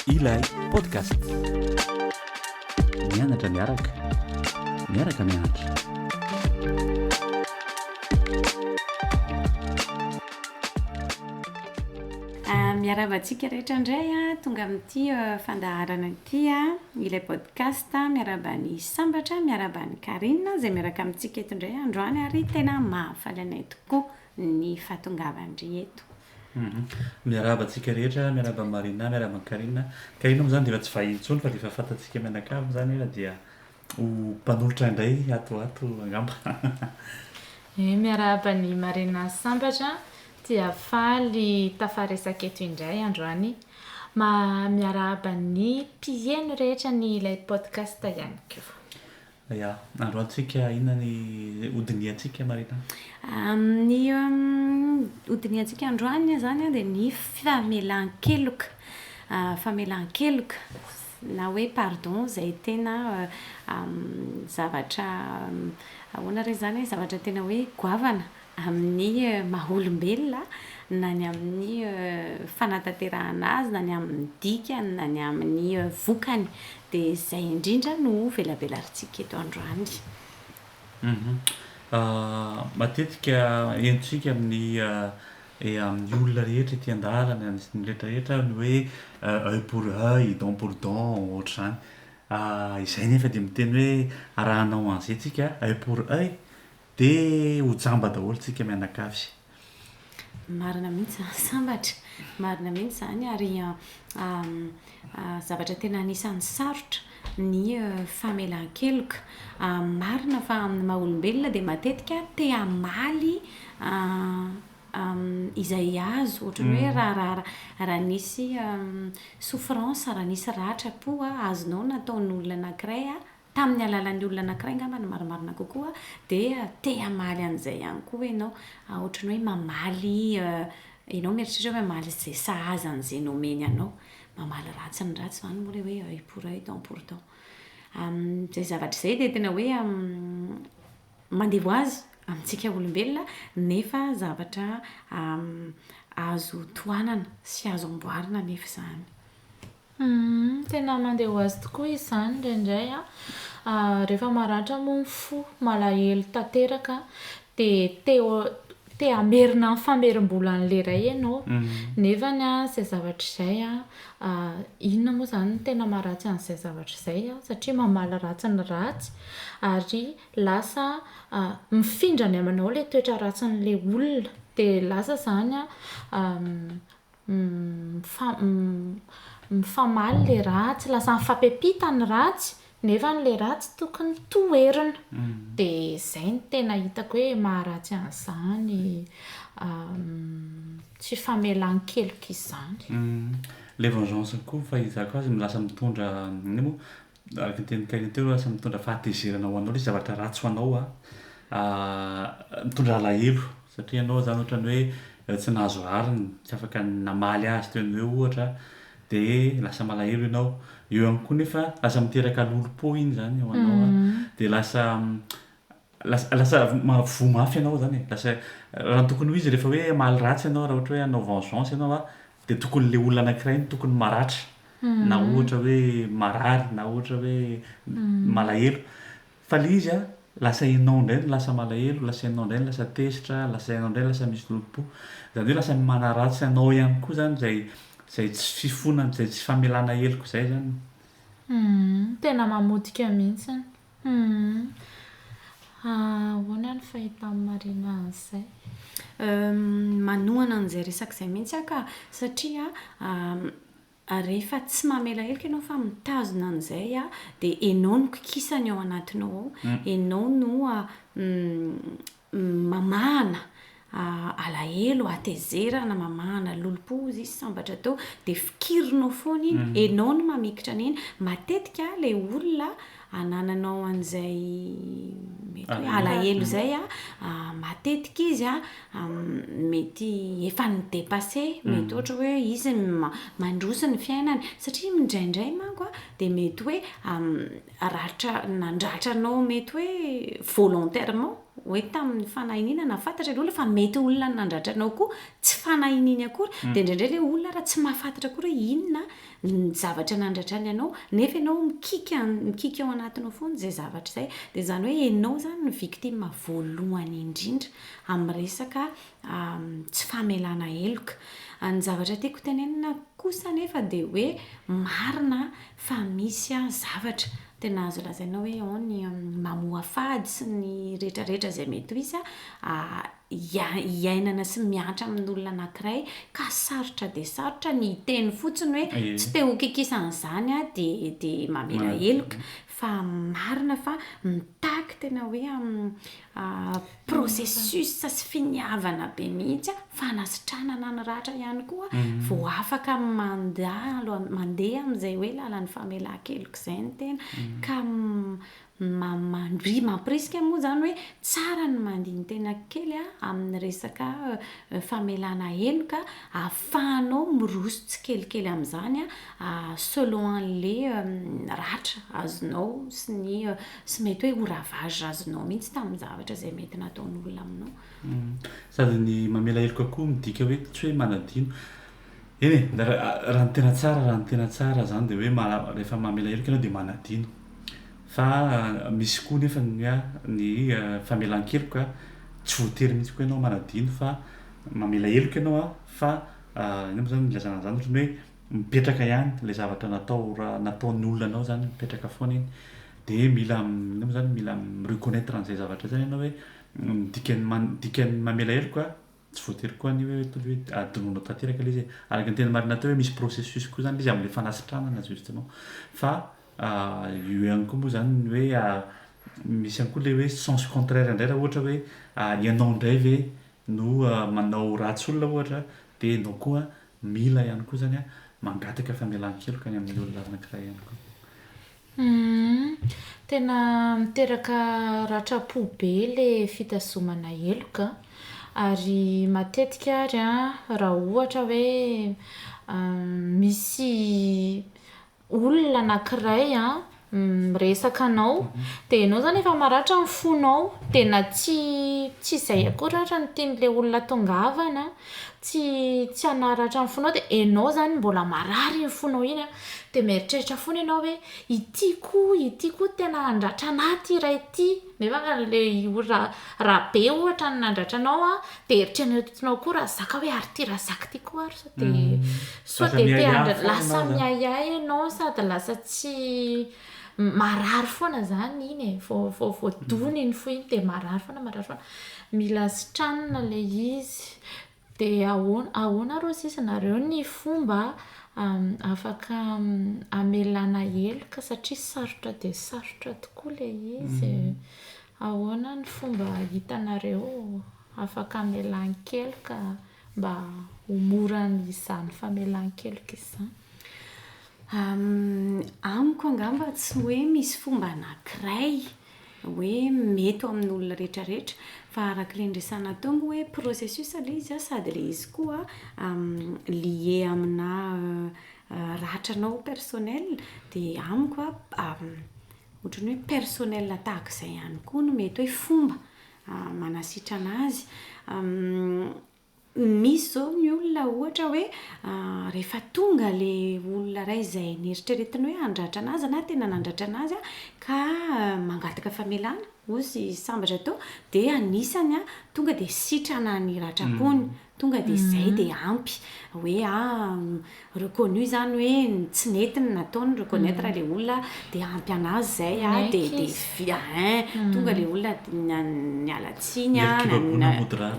Ilay podcast. Mianatra miaraka. Miaraka mianatra. Ah, miarahaba antsika rehetra indray a, ah. tonga amin'ity ah, fandaharana ity a, ah. ilay Casta miarahaba an'i Sambatra, miarahaba an'i Carine izay miaraka amintsika eto indray androany ary tena mahafaly anay tokoa ny fahatongavan-dry eto. Miarahaba antsika rehetra, miarahaba an'i Marina, miarahaba an'i Carine. Carine moa izany dia efa tsy vahiny intsony fa dia efa fantantsika mianakavy izany efa dia ho mpanolotra indray ato ho ato angamba. Ee, miarahaba an'i Marina sy Sambatra, dia faly tafaharesaka eto indray androany. Ma miarahaba ny mpiheno rehetra ny ilay podcast ihany koa. Ya, androantsika inona ny hodinihantsika Marina? Ny hodinihantsika androany izany dia ny famelan-keloka, famelan-keloka na hoe pardon izay tena zavatra ahoana re izany e, zavatra tena hoe goavana amin'ny maha olombelona, na ny amin'ny fanatanterahana azy, na ny amin'ny dikany, na ny amin'ny vokany. Dia izay indrindra no velabelarintsika eto androany. Matetika henontsika amin'ny amin'ny olona rehetra ety an-dalana sy ny rehetrarehetra ny hoe oeil pour oeil, dent pour dent, ohatr'izany. Izay nefa dia miteny hoe raha hanao an'izay tsika oeil pour oeil Dia ho jamba daholo tsika mianakavy. Marina mihitsy izany sambatra. Marina mihitsy izany ary zavatra tena anisan'ny sarotra ny famelan-keloka. Marina fa amin'ny maha olombelona dia matetika te hamaly izay azo, ohatran'ny hoe raha raha nisy souffrance, raha nisy ratra-po azonao nataon'olona anankiray, Tamin'ny alalan'ny olona anankiray angamba ny marimarina kokoa dia te hamaly an'izay ihany koa ianao. Ohatran'ny hoe mamaly, ianao mieritreritra hoe mamaly izay sahaza an'izay nomeny anao. Mamaly ratsy ny ratsy izany moa ilay hoe œil pour œil, dent pour dent. Amin'izay zavatra izay dia tena hoe mandevoazy amintsika olombelona nefa zavatra azo tohanana sy azo amboarina anefa izany. Humm tena mandeha ho azy tokoa izany indraindray an! Rehefa maratra moa ny fo, malahelo tanteraka dia te te hamerina ny famerim-bola an'ilay iray ianao nefa izay zavatra izay an, inona moa izany no tena maharatsy an'izay zavatra izay an, satria mamaly ratsy ny ratsy ary lasa mifindra any aminao ilay toetra ratsin'ilay olona dia lasa izany an Mifamaly le ratsy, lasa mifampipita ny ratsy nefa le ratsy tokony toherina. Dia izay no tena hitako hoe maharatsy an'izany tsy famelan-keloka izany. Ilay vengeance koa ny fahaizako azy lasa mitondra, Araka ny tenin'i Kaina teo, lasa mitondra fahatezerana ho anao ilay zavatra ratsy ho anao. Mitondra alahelo satria ianao izany ohatran'ny hoe tsy nahazo rariny, tsy afaka namaly azy teo an'io eo ohatra, dia lasa malahelo ianao. Eo ihany koa nefa lasa miteraka lolompo iny izany ho anao, dia lasa Lasa lasa voa mafy ianao zany e, lasa raha ny tokony ho izy rehefa hoe hamaly ratsy ianao, raha ohatra hoe hanao vengeance ianao a, dia tokony le olona anankiray no tokony maratra na ohatra hoe marary na ohatra hoe malahelo, fa le izy a lasa ianao indray no lasa malahelo, lasa ianao indray no lasa tezitra, lasa ianao indray no lasa misy loto-po, zany hoe lasa manaratsy anao ihany koa zany zay zay tsy fifonana, zay tsy famelana heloka zay zany. Tena mamotika mihitsiny. Humm. Ahoana ny fahitan'i Marina an'izay? Manohana an'izay resaka izay mihitsy aho ka. Satria rehefa tsy mamela heloka ianao fa mitazona an'izay, dia ianao no kikisana ao anatinao ao. Ianao no mamahana alahelo, hatezerana, mamahana lolompo hozy izy sambatra atao dia fikirinao foana iny, mm. enao no mamikitra an'iny. Matetika ilay olona anananao an'izay mety hoe alahelo izay a, matetika izy a mety efa ny dépassé, mm. mety ohatra hoe izy mandroso ny fiainany satria mindraindray manko a dia mety hoe ratra nandratra anao mety hoe volontairement hoe tamin'ny fanahiniana na fantatra ilay olona fa mety olona ny nandratra anao koa tsy fanahininy akory mm. dia indraindray ilay olona raha tsy mahafantatra akory hoe inona ny zavatra nandratrany anao nefa ianao mikika mikika ao anatinao foana izay zavatra izay dia izany hoe ianao izany ny victime voalohany indrindra amin'ny resaka tsy famelana heloka ny zavatra tiako tenenina kosa nefa dia hoe marina fa misy an zavatra tena azo lazaina hoe an ny mamoha fady sy ny rehetra rehetra izay mety ho izy an hiainana sy miantra amin' olona anankiray ka sarotra dia sarotra ny hiteny fotsiny hoe tsy te ho kikisan' izany aho dia dia mamela heloka fa marina fa mitaky tena hoe an Processus sy finiavana be mihitsy a, fanasitranana ny ratra ihany koa vao afaka manda alohan'ny mandeha amin'izay hoe lalan'ny famelan-keloka izay ny tena ka mandri- mampirisika moa izany hoe tsara ny mandini-tena kely a amin'ny resaka famelana heloka ahafahanao miroso tsikelikely amin'izany a selon an'ilay ratra azonao sy ny Tsy mety hoe ho ravage azonao mihitsy tamin'ny zavatra izay mety nataon'olona aminao. Sady ny mamela heloka koa midika hoe tsy hoe manadino. Eny e, raha ny tena tsara, raha ny tena tsara izany dia hoe rehefa mamela heloka ianao dia manadino. Fa misy koa nefa ny hoe ny famelan-keloka tsy voatery mihitsy koa ianao manadino fa mamela heloka ianao fa inona moa izany no ilazana an'izany, ohatran'ny hoe mipetraka ihany ilay zavatra natao raha nataon'ny olona anao zany mipetraka foana iny de mila inona moa zany mila mi-reconnaitre an'izay zavatra zay ianao hoe ny dikan'ny man- dikan'ny mamela heloka tsy voatery koa ny hoe atao hoe adinonao tanteraka le izy e araka ny teny marina teo hoe misy processus koa zany le izy am'le fanasitranana justement fa io ihany koa moa zany ny hoe misy ihany koa le hoe sens contraire indray raha ohatra hoe ianao indray ve no manao ratsy olona ohatra de ianao koa Mila ihany koa zany mangataka famelan-keloka any amin'ny olona anankiray ihany koa. Humm, tena miteraka ratram-po be le fitazomana heloka an! Ary matetika ary an, raha ohatra hoe misy olona anakiray miresaka anao dia ianao izany efa maratra ny fonao dia na tsy tsy izay akory ary ny tian'ilay olona tongavana tsy tsy hanaratra ny fonao dia ianao izany mbola marary iny fonao iny dia mieritreritra foana ianao hoe ity koa ity koa tena handratra anah ity hira ity nefa raha ilay olona raha be ohatra ny nandratra anao dia eritreretinao koa Razaka hoe ary ity Razaka ity koa ary dia soit dia te handra- lasa miahiahy ianao sady lasa tsy marary foana izany iny e, vao vao vao dona iny fo iny dia marary foana marary foana, mila sitranina ilay izy, dia ahoana ahoana ary hozy izy nareo ny fomba afaka hamelana heloka satria sarotra dia sarotra tokoa ilay izy e, ahoana ny fomba hitanareo afaka hamelan-keloka. mba ho mora izany famelan-keloka izany? Amiko angamba tsy hoe misy fomba anankiray hoe mety ho amin'olona rehetra rehetra fa araka ilay niresahana teo moa hoe processus ilay izy sady ilay izy koa lié aminà ratranao personnel dia amiko ohatran'ny hoe personnel tahaka izay ihany koa no mety hoe fomba manasitrana azy misy zao ny olona ohatra hoe rehefa tonga le olona ray izay neritreretiny hoe handratra anazy na tena nandratra anazy ka mangataka famelana ozy sambatra teo dia anisany a tonga dia sitrana ny ratrapony Tonga dia izay dia ampy hoe ah reconnu izany hoe tsy nety ny nataony, reconnaitre ilay olona dia ampy an'azy izay ah dia dia hein tonga ilay olona niala tsiny ah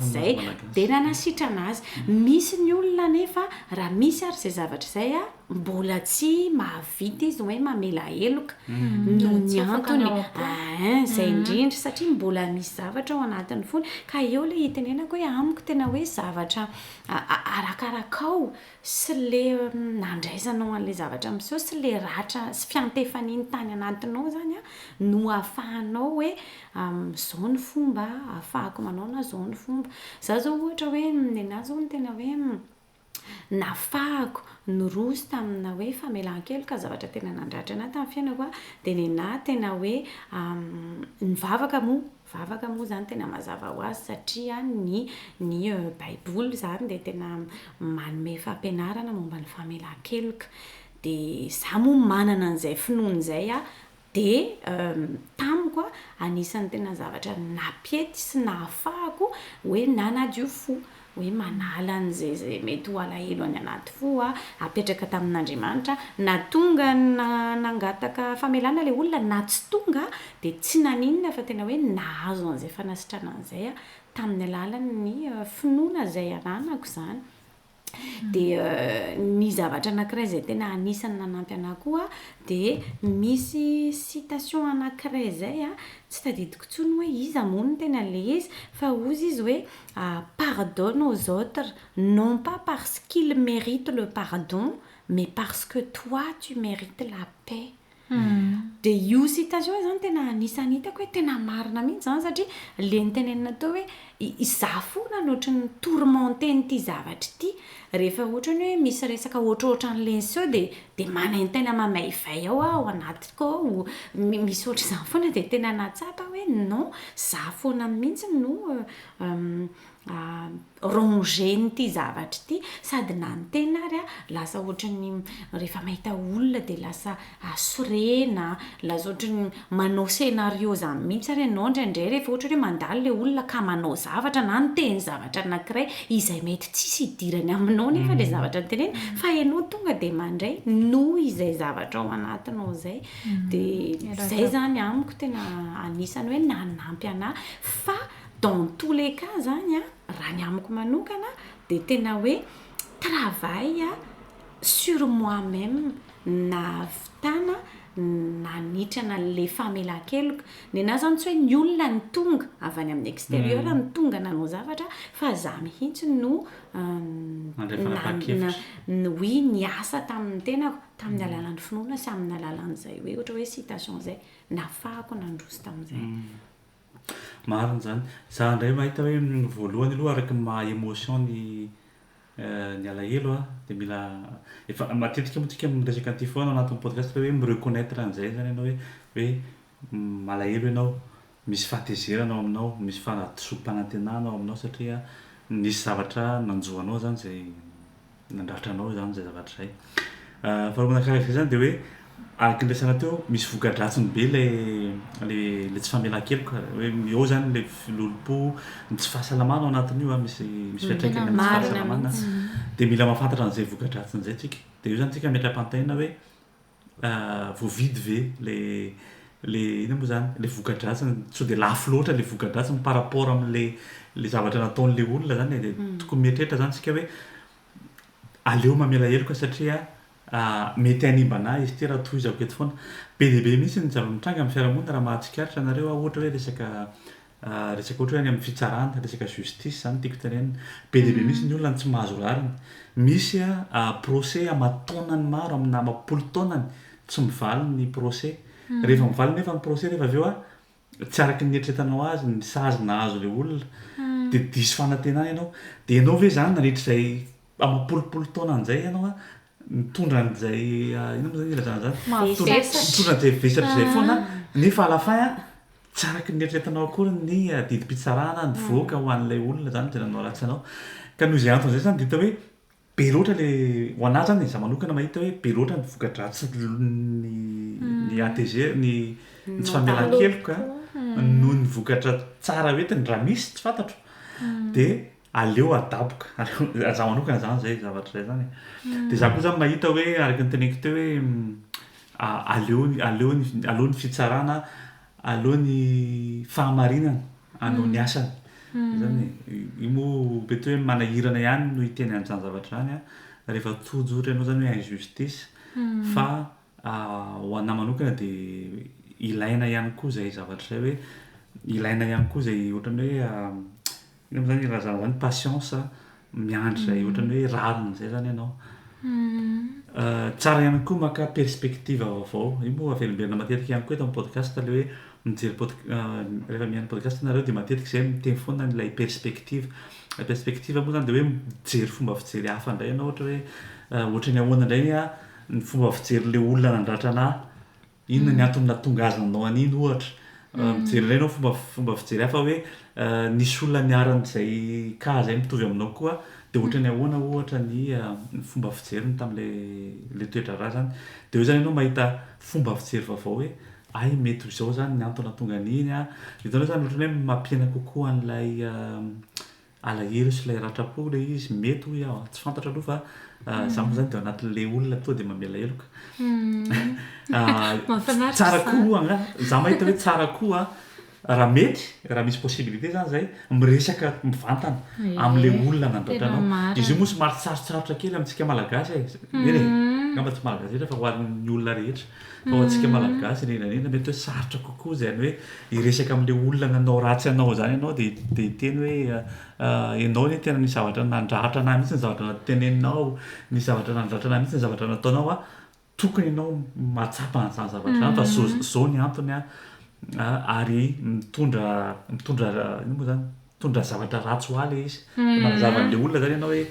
izay dia nanasitrana azy. Misy ny olona anefa raha misy ary izay zavatra izay ah. Mbola tsy mahavita izy hoe mamela heloka noho ny antony eeh zay indrindra satria mbola misy zavatra ao anatiny fony ka eo le itenenako hoe amiko tena hoe zavatra arakarakao sy le nandraisanao anle zavatra miseho sy le ratra sy fiantefaniny tany anatinao zany a no afahanao hoe zao ny fomba afahako manao na zao ny fomba za zao ohatra hoe nenahy zao no tena hoe Nafahako, niroso tamina hoe famelan-keloka, zavatra tena nandratra an'ahy tamin'ny fiainako aho, dia nen'ahy tena hoe nivavaka moa, vavaka moa izany tena mazava ho azy satria ny ny baiboly izany dia tena manome fampianarana momba ny famelan-keloka, dia izaho moa manana an'izay finoana izay aho, Dia tamiko anisan'ny tena zavatra nampiety sy nahafahako hoe nanadio fo, hoe manala an'izay izay mety ho alahelo any anaty fo aho, apetraka tamin'Andriamanitra, na tonga na nangataka famelana ilay olona na tsy tonga dia tsy naninona fa tena hoe nahazo an'izay fanasitranana izay aho tamin'ny alalan'ny finoana izay ananako izany. Dia ny zavatra anankiray izay tena anisan'ny nanampy anà koa dia misy citation anankiray izay a, tsy tadidiko intsony hoe iza moa no tena le izy fa hozy izy hoe pardonne aux autres non pas parce qu'ils méritent le pardon mais parce que toi tu mérites la paix. Dia io citation io izany tena anisan'ny hitako hoe tena marina mihitsy izany satria ilay nitenenina teo hoe izaho foana no ohatran'ny tourmenter-n'ity zavatra ity. Rehefa ohatra ny hoe misy resaka ohatrohatran'ilay niseho dia dia manaintaina mamaivay ao aho ao anatiko ao. Misy ohatr'izany foana dia tena nahatsapa aho hoe non, izaho foana mihitsy no ranger-ny ity zavatra ity sady na ny tena ary a lasa ohatran'ny rehefa mahita olona dia lasa asorena lasa ohatran'ny manao scénario zany mihitsy ary ianao indraindray rehefa ohatra hoe mandalo ilay olona ka manao zavatra na niteny zavatra anankiray izay mety tsisy hidirany aminao nefa ilay mhm. zavatra niteneny mhm. fa ianao tonga dia mandray noho izay zavatra ao anatinao izay mhm. dia izay zany amiko tena anisany hoe nanampy anah fa Dans tous les cas zany a, raha ny amiko manokana dia tena hoe travail sur moi-même ny nahavitana nanitrana le famelan-keloka. Nenaha zany tsy hoe ny olona no tonga avy any amin'ny exterieur no tonga nanao zavatra fa za mihitsy no Nandray fanapahan-kevitra. na- oui, niasa tamin'ny tenako, tamin'ny alalan'ny finoana sy amin'ny alalan'izay hoe ohatra hoe citation izay nafahako nandroso tamin'izay. Marina izany. Za indray mahita hoe voalohany aloha araka ny maha emotion ny ny alahelo a de mila efa matetika moa tsika miresaka an'ty foana ao anatin'ny podcast fa hoe mi-reconnaitre an'zay zany ianao hoe hoe malahelo ianao, misy fahatezerana ao aminao, misy fahadisoam-panantenana ao aminao satria nisy zavatra nanjo anao zany zay nandrafitra anao izany izay zavatra izay. Faharoa manakariaka izany dia hoe araka ny resana teo misy voka-dratsiny be ilay ilay ilay tsy famelan-keloka hoe eo izany ilay filolom-po, ny tsy fahasalamana ao anatin'io a misy misy fiantraikany amin'ny tsy fahasalamana dia mila mahafantatra an'izay voka-dratsiny izay tsika. Dia eo izany tsika ametra-pantena hoe voavidy ve le le inona moa zany le voka-dratsiny sao de lafo loatra le voka-dratsiny par rapport amle le zavatra nataonle olona zany e de tokony mieritreritra zany isika hoe aleo mamela heloka satria mety hanimbana ahy izy ity raha tohizako eto foana be dia be mihitsy ny zava-mitranga amin'ny fiarahamonina raha mahatsikaritra anareo aho ohatra hoe resaka Resaka ohatra hoe any amin'ny fitsarana, resaka justice izany tiako tenenina. Be dia be mihitsy ny olona no tsy mahazo rariny. Misy procès aman-taonany maro amina amam-polo taonany tsy mivaly ny procès. Rehefa mivaly nefa ny procès nefa avy eo tsy araka ny nieritreretanao azy ny sazy nahazo ilay olona dia diso fanantenana ianao. Dia ianao ve izany nandritra izay amam-polopolo taonany izay ianao Mitondra an'izay inona moa zany ilazana zany? Mavesatra. Mitondra an'izay vesatra izay foana nefa à la fin tsy araka ny eritreretinao akory ny didim-pitsarana nivoaka ho an'ilay olona zany izay nanao ratsy anao. Ka noho izay antony izay zany dia hita hoe be loatra le ho anahy zany e, za manokana mahita hoe be loatra ny voka-dratsin'ny ny ATG, ny ny tsy famelan-keloka noho ny vokatra tsara hoentiny raha misy tsy fantatro dia aleo adaboka ary za manokana zany zay zavatra zay zany e de za koa zany mahita hoe araka ny teneniko teo hoe aleo aleo aleo ny fitsarana aleo ny fahamarinana anao ny asany zany io moa mety hoe manahirana ihany no hiteny an'izany zavatra zany a rehefa tojo ohatra ianao zany hoe injustice fa ho anà manokana de ilaina ihany koa zay zavatra zay hoe ilaina ihany koa zay ohatran'ny hoe Nefa zany raha zah zany patience miandry zay ohatrany hoe rariny zay zany ianao. Tsara ihany koa maka perspective vaovao. Io moa avelomberina matetika ihany koa eto amin'ny podcast le hoe mijery pod- rehefa mihaino podcast nareo de matetika zay miteny foana ny lay perspective. Lay perspective moa zany de hoe mijery fomba fijery hafa ndray ianao ohatra hoe ohatrany ahoana ndray ny fomba fijery le olona nandratra anah. Inona ny antony nahatonga azy nanao an'iny ohatra? Mijery indray ianao fomba fomba fijery hafa hoe nisy olona niharan'izay cas izay mitovy aminao koa dia ohatra ny ahoana ohatra ny fomba fijeriny tamin'ilay ilay toe-draharaha izany. Dia eo izany ianao mahita fomba fijery vaovao hoe hay mety ho izao izany ny antony nahatonga an'iny an! Hitanao izany ohatran'ny hoe mampiaina kokoa an'ilay alahelo sy ilay ratram-po ilay izy, mety hoy aho a, tsy fantatro aloha fa izaho moa izany dia ao anatin'ilay olona tonga dia mamela heloka. Tsara koa moa angaha, izaho mahita hoe tsara koa raha mety, raha misy possibilité izany izay, miresaka mivantana amin'ilay olona nandratra anao. Izy io moa somary tsarotsarotra kely amintsika Malagasy e, eny e, angamba tsy Malagasy rehetra fa ho an'ny olona rehetra. Ho antsika Malagasy indrindra indrindra mety hoe sarotra kokoa izany hoe hiresaka amin'ilay olona nanao ratsy anao izany ianao dia dia hiteny hoe ianao anie tena nisy zavatra nandratra an'ahy mihitsy ny zavatra teneninao, nisy zavatra nandratra an'ahy mihitsy ny zavatra nataonao an, tokony ianao mahatsapa an'izany zavatra izany fa izao izao ny antony an, ary mitondra mitondra inona moa izany mitondra zavatra ratsy ho ahy ilay izy, manazava an'ilay olona izany ianao hoe.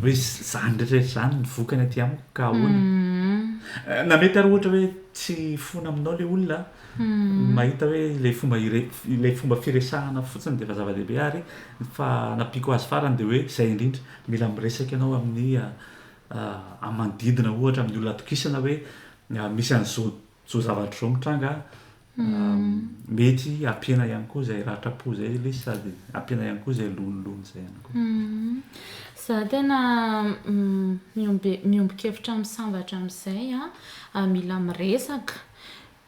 Misy izany rehetra izany ny vokany aty amiko ka ahoana? Na mety ary ohatra hoe tsy fona aminao ilay olona an, mahita hoe ilay fomba ire- ilay fomba firesahana fotsiny dia efa zava-dehibe ary ny fanampiako azy farany dia hoe izay indrindra, mila miresaka ianao amin'ny amin'ny manodidina ohatra amin'ny olona atokisana hoe misy an'izao Zao zavatra zao mitranga mety ampiana ihany koa zay ratra-po zay lesy sady ampiana ihany koa zay lonilony zay ihany koa. Za tena miombe- miombon-kevitra amin'ny sambatra amin'izay an, mila miresaka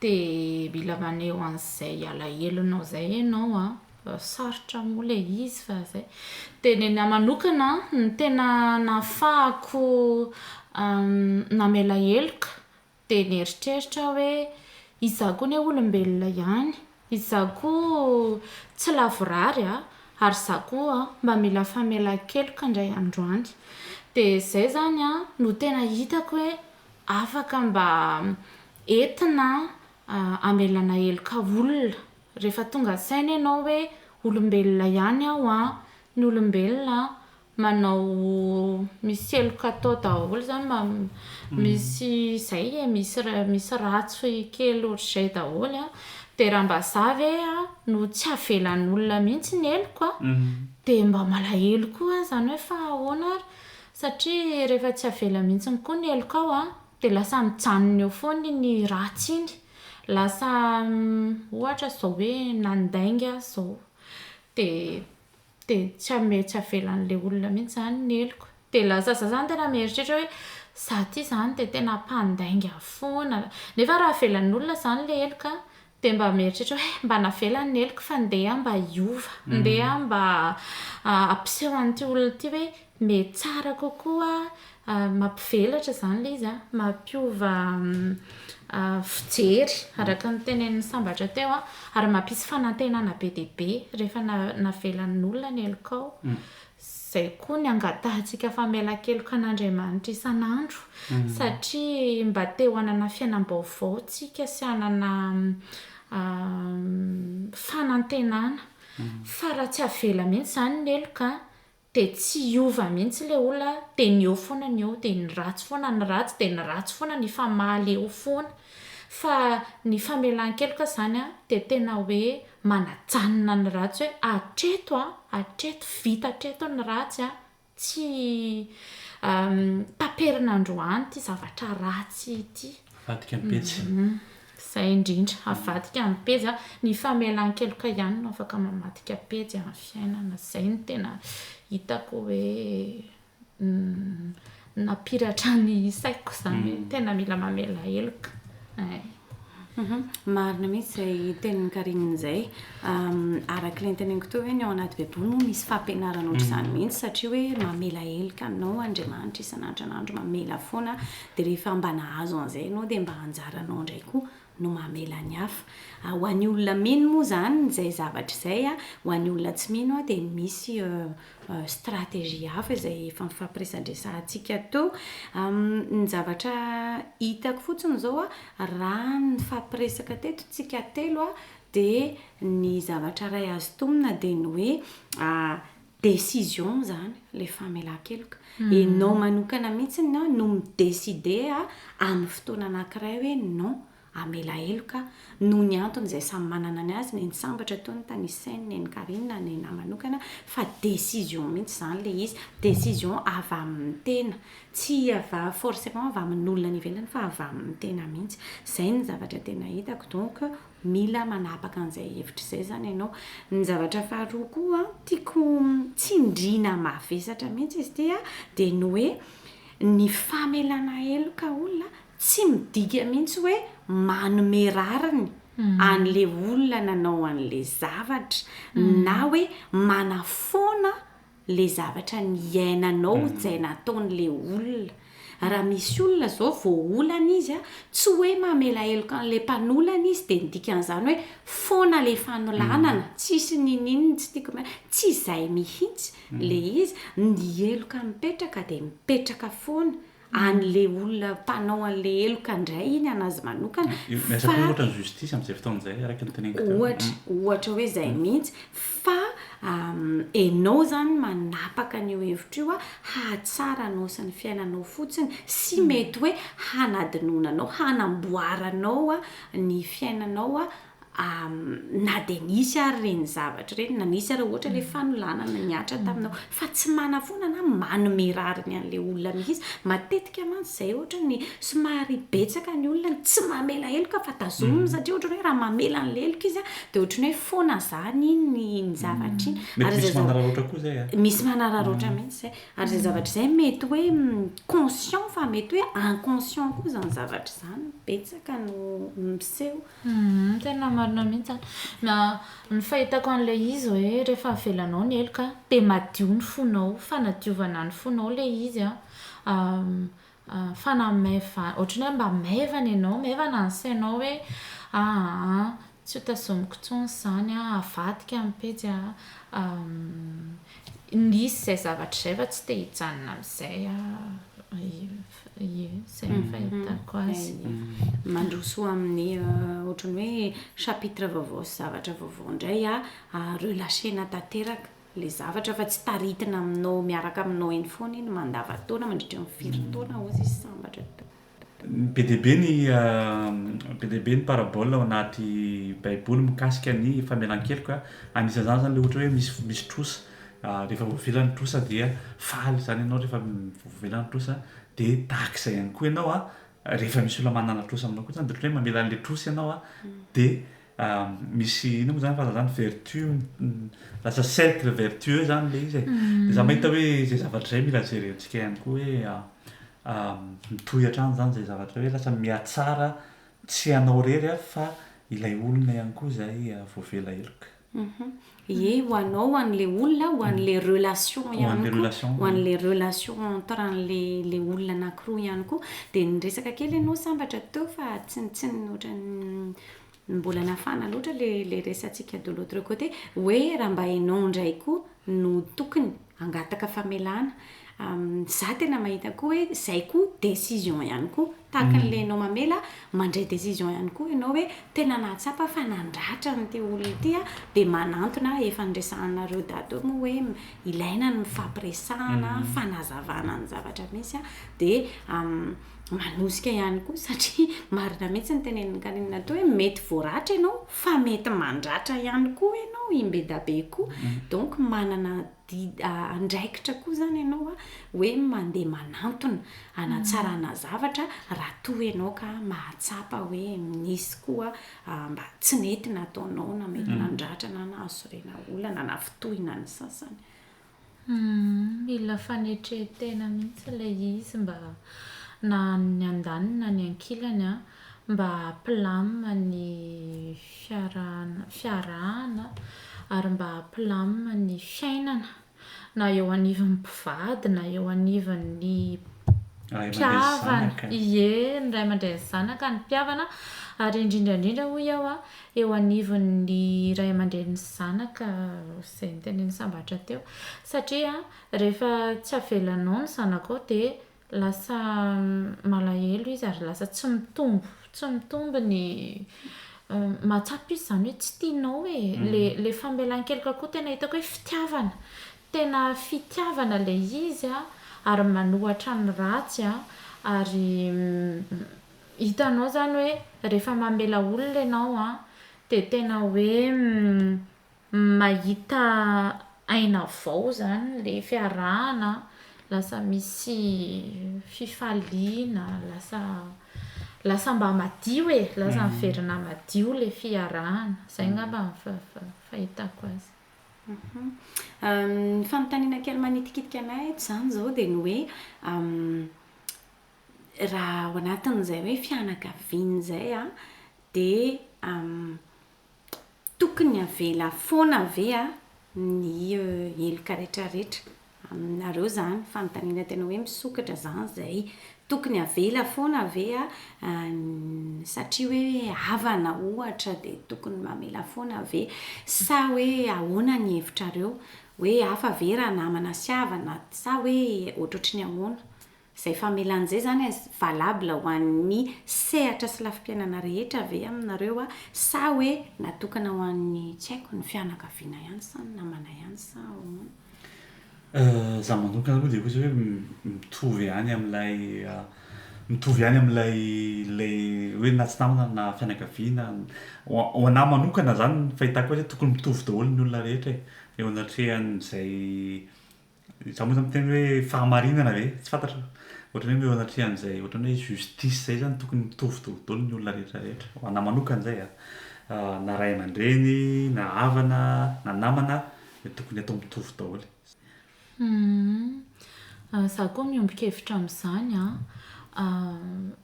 de mila maneho an'izay alahelonao zay ianao an, sarotra moa le izy fa zay. De ny anahy manokana an, ny tena nahafahako namela heloka Dia nieritreritra aho hoe, Izaho koa anie olombelona ihany. Izaho koa tsy lavorary a! Ary izaho koa mba mila famelan-keloka indray andro any. Dia izay izany no tena hitako hoe afaka mba entina hamelana heloka olona. Rehefa tonga an-tsaina ianao hoe olombelona ihany aho a, ny olombelona manao misy heloka atao daholo zany mba misy zay e misy misy ratsy kely otrzay daholo a de raha mba za ve a no tsy avelan'olona mihitsy ny heloko a de mba malahelo koa aho zany hoe fa ahoana ary satria rehefa tsy avela mihitsy ny koa ny helokao a de lasa mijanona eo foana iny ratsy iny lasa ohatra zao hoe nandainga aho zao de de tsy ame tsy avelan'le olona mihitsy zany ny heloko de lasa za zany tena mieritreritra hoe za ty zany de tena mpandainga foana nefa raha avelan'ny olona zany le heloka de mba mieritreritra hoe mba navelany ny heloko fa ndeha mba hiova ndeha mba ampiseho an'ity olona ity hoe Me tsara kokoa mampivelatra izany ilay izy an, mampiova fijery araka ny tenenin'i Sambatra teo an, ary mampisy fanantenana be dia be rehefa navelan'olona ny helokao, izay koa ny angatahantsika famelan-keloka an'Andriamanitra isan'andro satria mba te ho hanana fiainam-baovao tsika sy hanana fanantenana fa raha tsy avela mihintsy izany ny heloka an, de tsy hiova mihitsy le olona de ny eo foana ny eo de ny ratsy foana ny ratsy de ny ratsy foana ny famaly eo foana fa ny famelankeloka zany a de tena hoe manajanona ny ratsy hoe atreto a atreto vita atreto ny ratsy a tsy taperina androany ty zavatra ratsy ity. Avadika ny pejy. Zay indrindra. Avadika amin'ny pejy a. Ny famelan-keloka ihany no afaka mamadika pejy amin'ny fiainana. Zay no tena hitako hoe nampiratra ny saiko zany hoe tena mila mamela heloka eh. Marina mihitsy izay tenin'i Carine izay. Araka ilay noteneniko teo hoe ny ao anaty Baiboly moa misy fampianarana ohatr'izany mihitsy satria hoe mamela heloka anao Andriamanitra isan'andro isan'andro, mamela foana. Dia rehefa mba nahazo an'izay ianao dia mba anjaranao indray koa no mamela ny hafa. Ho an'ny olona mino moa izany izay zavatra izay, ho an'ny olona tsy mino dia misy stratégie hafa izay efa nifampiresadresahantsika teo. Ny zavatra hitako fotsiny izao raha ny nifampiresaka teto tsika telo dia ny zavatra iray azo tonina dia ny hoe Décision zany le famelankeloka. Enao manokana mihitsy no no mi-decide amin'ny fotoana anakiray hoe non, hamela heloka aho. Noho ny antony izay samy manana ny azy, nen'i Sambatra toa ny tanisainy, nen'i Carine, ny anah manokana, fa décision mihitsy izany le izy. Décision avy amin'ny tena. Tsy avy forcément avy amin'olona any ivelany fa avy amin'ny tena mihitsy. Izay no zavatra tena hitako donc Mila manapaka an'izay hevitra izay izany ianao. Ny zavatra faharoa koa tiako tsindriana mavesatra mihitsy izy ity dia ny hoe ny famelana heloka olona tsy midika mihitsy hoe manome rariny an'ilay olona nanao an'ilay zavatra na hoe manafoana le zavatra niainanao mhm. zay nataony le olona raha misy olona zao voaolana izy a tsy hoe mamela heloka an'la mpanolana izy dia nidikan'izany hoe foana le fanolanana mhm. tsisy nininny tsy tiako m tsy izay mihitsy mhm. le izy ny heloka mipetraka dia mipetraka foana anle olona mpanao anle heloka ndray iny anazy manokana fa ohatra ny justice amzay fotoana zay araka ny teneniko teo ohatra ohatra hoe zay mintsy fa enao zany manapaka an'io hevitra io a hahatsara anao sy ny fiainanao fotsiny sy mety hoe hanadinoana anao hanamboaranao a ny fiainanao a na dia nisy ary ireny zavatra ireny, na nisy ary ohatra ilay fanolanana nihatra taminao, fa tsy manafona na manome rariny an'ilay olona mihitsy. Matetika mantsy izay ohatra ny somary betsaka ny olona no tsy mamela heloka fa tazominy mm. satria ohatrany hoe raha mamela an'ilay heloka izy dia ohatrany hoe foana izany ny ny zavatra iny. Mm. Ary misy manararoatra koa izay a. Ah. Misy manararoatra mm. mihitsy izay. Ary izay zavatra izay mety hoe mm, conscient fa mety hoe inconscient koa izany zavatra izany betsaka no miseho. Humm tena marina mihitsy an! Na ny fahitako an'ilay izy hoe rehefa avelanao ny heloka dia madio ny fonao, fanadiovana ny fonao ilay izy an, fanamaivan- ohatran'ny hoe mba maivana ianao, maivana ny sainao hoe aa tsy ho tazomiko intsony izany an, avadika ny pejy an, hisy izay zavatra izay fa tsy te hijanona amin'izay aho. Ie, izay no fahitako azy. Mandroso amin'ny ohatran'ny hoe chapitre vaovao sy zavatra vaovao indray aho, relâcher-na tanteraka ilay zavatra fa tsy taritina aminao miaraka aminao eny foana iny mandavan-taona mandritra ny firy taona hozy izy sambatra. Be dia be ny be dia be ny parabole ao anaty baiboly mikasika ny famelan-keloka, anisan'izany izany ilay ohatra hoe misy misy trosa Rehefa voavela ny trosa dia faly izany ianao rehefa voavela ny trosa dia tahaka izay ihany koa ianao rehefa misy olona manana trosa aminao koa izany dia ohatran'ny hoe mamela an'ilay trosa ianao dia misy inona moa izany frazan'ny izany vertu lasa cercle vertueux izany ilay izy e, dia izaho mahita hoe izay zavatra izay mila jerentsika ihany koa hoe mitohy hatrany izany izay zavatra hoe lasa mihatsara tsy ianao irery fa ilay olona ihany koa izay voavela heloka. Ie, ho anao, ho an'le olona, ho an'le relation ihany koa, ho an'le relation entre an'le olona anakiroa ihany koa. Dia niresaka kely ianao sambatra teo fa tsy tsy ohatran'ny mbola nafana loatra ilay resatsika de l'autre côté hoe raha mba ianao indray koa no tokony hangataka famelana, za tena mahita koa hoe zay koa décision ihany koa, tahaka an'le enao mamela mandray décision ihany koa enao hoe tena nahatsapa fa nandratra an'ity olona ity a, de manantona a, efa niresahanareo daty eo moa hoe ilaina ny mifampiresahana, fanazavana ny zavatra misy a, de. manosika ihany koa satria marina mihitsy ny tenenin'i Nkaninina teo hoe mety voaratra ianao fa mety mandratra ihany koa ianao i Mbedabe koa mhm. donc manana andraikitra koa zany ianao a hoe mandeha manantona anatsarana mhm. zavatra raha toa ianao ka mahatsapa hoe misy koa mba tsy nety nataonao na mety mhm. nandratra na nahasorena olana na fitohina ny sasany Humm mila fanetren-tena mihitsy ilay izy mba na ny andaniny na ny ankilany an, mba hampilamina ny fiaraha- fiarahana ary mba hampilamina ny fiainana na eo anivon'ny mpivady na eo anivon'ny mpihavana, ie, ny ray aman-dreny sy ny zanaka, ny mpihavana ary indrindra indrindra hoy aho an. eo anivon'ny ray aman-dreny sy zanaka, izay notenenin'i Sambatra teo, satria rehefa tsy avelanao ny zanakao dia lasa malahelo izy ary lasa tsy mitombo, tsy mitombo ny mahatsapa izy izany hoe tsy tianao e, ilay famelan-keloka koa tena hitako hoe fitiavana, tena fitiavana ilay izy ary manohatra ny ratsy ary Hitanao zany hoe rehefa mamela olona ianao an, dia tena hoe mahita aina vao zany ilay fiarahana, lasa misy fifaliana, lasa lasa mba madio e, lasa miverina madio ilay fiarahana. Izay angamba no fahitako azy. Ny fanontaniana kely manitikitika anay eto izany izao dia ny hoe Raha ao anatin'izay hoe fianakaviana izay aho dia tokony avela foana ve aho ny heloka retraretra aminareo izany fanontaniana tena hoe misokatra izany izay. Tokony avela foana ve aho satria hoe havana ohatra dia tokony mamela foana ve sa hoe ahoana ny hevitrareo? Hoe hafa ve raha namana sy havana sa hoe ohatrohatry ny ahoana? Izay famelan'izay izany valable ho an'ny sehatra sy lafim-piainana rehetra ve aminareo sa hoe natokana ho an'ny tsy haiko ny fianakaviana ihany sa ny namana ihany sa ahoana? Izaho manokana aloha dia ohatra hoe mitovy ihany amin'ilay mitovy ihany amin'ilay ilay hoe na tsy namana na fianakaviana. Ho a- ho an'ahy manokana izany ny fahitako azy hoe tokony mitovy daholo ny olona rehetra e, eo anatrehan'izay. Za moa zany miteny hoe fahamarinana ve? Tsy fantatra. Ohatran'ny hoe eo anatrehan'izay ohatran'ny hoe justice zay zany tokony mitovy daholo ny olona rehetra rehetra. Ho anahy manokana zay a. Na ray aman-dreny, na havana, na namana dia tokony atao mitovy daholo. Za koa miombon-kevitra amin'izany a.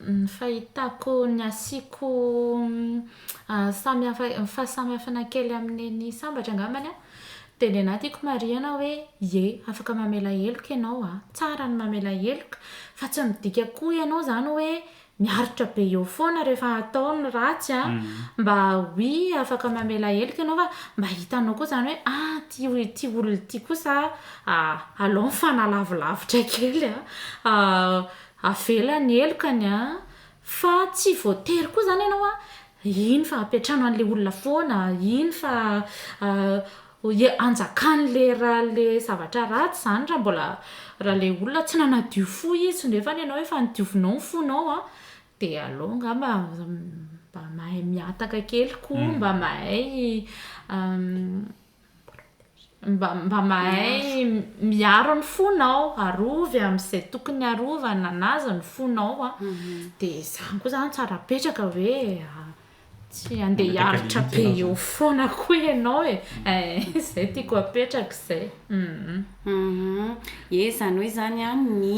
Ny fahitako ny asiako samy hafa ny fahasamihafana kely amin'iny sambatra angambany a. Dia ny anà tiako marihana hoe ie afaka mamela heloka ianao a! Tsara ny mamela heloka fa tsy midika koa ianao izany hoe miaritra be eo foana rehefa atao ny ratsy a! Mba oui afaka mamela heloka ianao fa mba hitanao koa izany hoe ah ity ity olona ity kosa a aleo mifanalavilavitra kely a! Avela ny helokany a! Fa tsy voatery koa zany ianao an, iny fa ampiantrano an'le olona foana, iny fa anjakan'le raha le zavatra ratsy zany raha mbola raha le olona tsy nanadio fo izy nefany ianao efa nodiovinao ny fonao an, dia aleo angamba mba mahay mihataka kely koa mba mahay Mba, mba mahay miaro ny fonao, arovy amin'izay tokony arovana an'azy ny fonao an. Mhm. Dia izany koa izany tsara apetraka hoe ah, tsy handeha hiaritra be eo foana koa ianao e. Mhm. Eh, izay tiako apetraka izay. Mhm. Mhm. Ie, izany hoe izany an, ny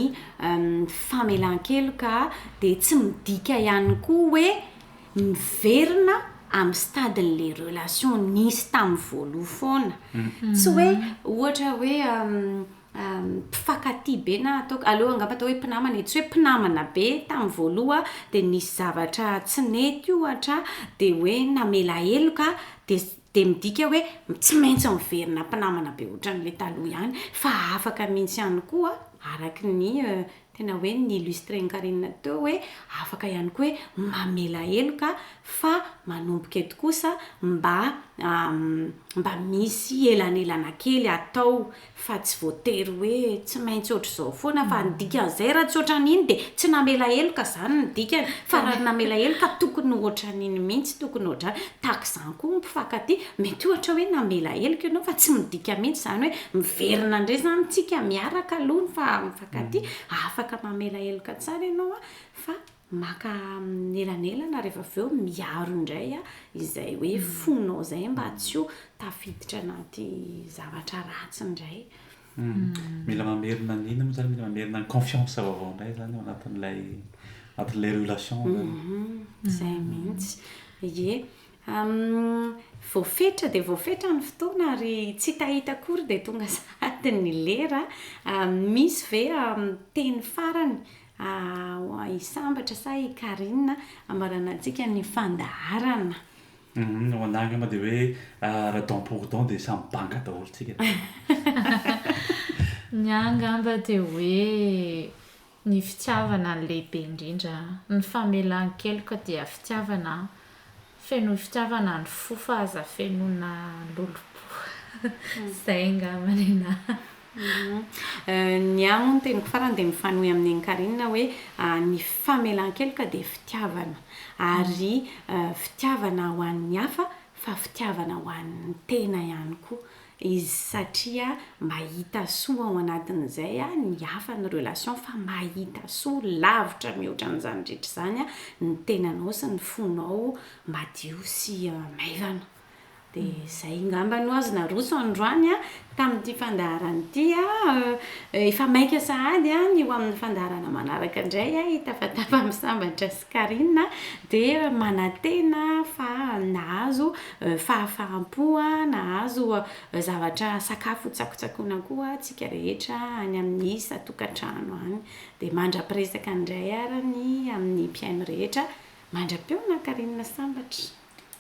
famelan-keloka dia tsy midika ihany koa hoe miverina amin'ny stade les relations nisy tamin'ny voaloha foana tsy hoe ohatra hoe mpifankatia be na ataoko aleo angamba atao hoe mpinamana e tsy hoe mpinamana be tamin'ny voaloha dia nisy zavatra tsy nety ohatra dia hoe namela heloka dia dia midika hoe tsy maintsy miverina mpinamana be ohatran'ilay taloha ihany fa afaka mihitsy ihany koa araka ny euh, Tena hoe ni-illustrer an'i Carine teo hoe afaka ihany koa hoe mamela heloka fa manomboka eto kosa mba mba misy elanelana kely atao fa tsy voatery hoe tsy maintsy ohatr'izao foana fa ny dikan'izay raha tsy ohatran'iny dia tsy namela heloka izany ny dikany fa raha namela heloka tokony ohatran'iny mihitsy tokony ohatrany tahaka izany koa ny mpifankatia mety ohatra hoe namela heloka ianao fa tsy midika mihitsy izany hoe miverina indray izany tsika miaraka aloha fa Ka ty afaka mamela heloka tsara ianao a fa maka elanelana rehefa avy eo miaro indray a izay hoe fonao zay mba tsy ho tafiditra anaty zavatra ratsy indray. Mila mamerina ny inona moa zany mila mamerina ny confiance vaovao indray zany ao anatin'ilay anatin'ilay relation zany. Zay mihitsy. Ie. Humm voafetra dia voafetra ny fotoana ary tsy hitahita akory dia tonga sahady ny lera an! misy ve teny farany i Sambatra sa i Carine ambarana antsika ny fandaharana? Humm ho anah angamba dia hoe raha don pour don dia samy banga daholo tsika. Ny ahy angamba dia hoe. Ny fitiavana no lehibe indrindra. Ny famelan-keloka dia fitiavana an. Fenoy fitiavana ny fo fa aza fenoina lolompo. Izay angamba ny anah. Ny ahy moa ny teniko farany dia mifanohy amin'ny an'i Carine hoe ny famelan-keloka dia fitiavana. Ary fitiavana ho an'ny hafa fa fitiavana ho an'ny tena ihany koa. Izy satria mahita soa ao anatin'izay ny hafa ny relation fa mahita soa lavitra mihoatra an'izany rehetra izany ny tenanao sy ny fonao madio sy maivana dia izay ngamba no azo naroso androany tamin'ity fandaharana ity efa maika sahady ny ho amin'ny fandaharana manaraka indray hitafatafa amin'ny sambatra sy Carine dia manantena fa nahazo fahafaham-po, nahazo zavatra sakafo hotsakotsakoina koa isika rehetra any amin'ny isan-tokantrano any. Dia mandra-piresaka indray ary ny amin'ny mpihaino rehetra, mandra-pihaona Carine Sambatra.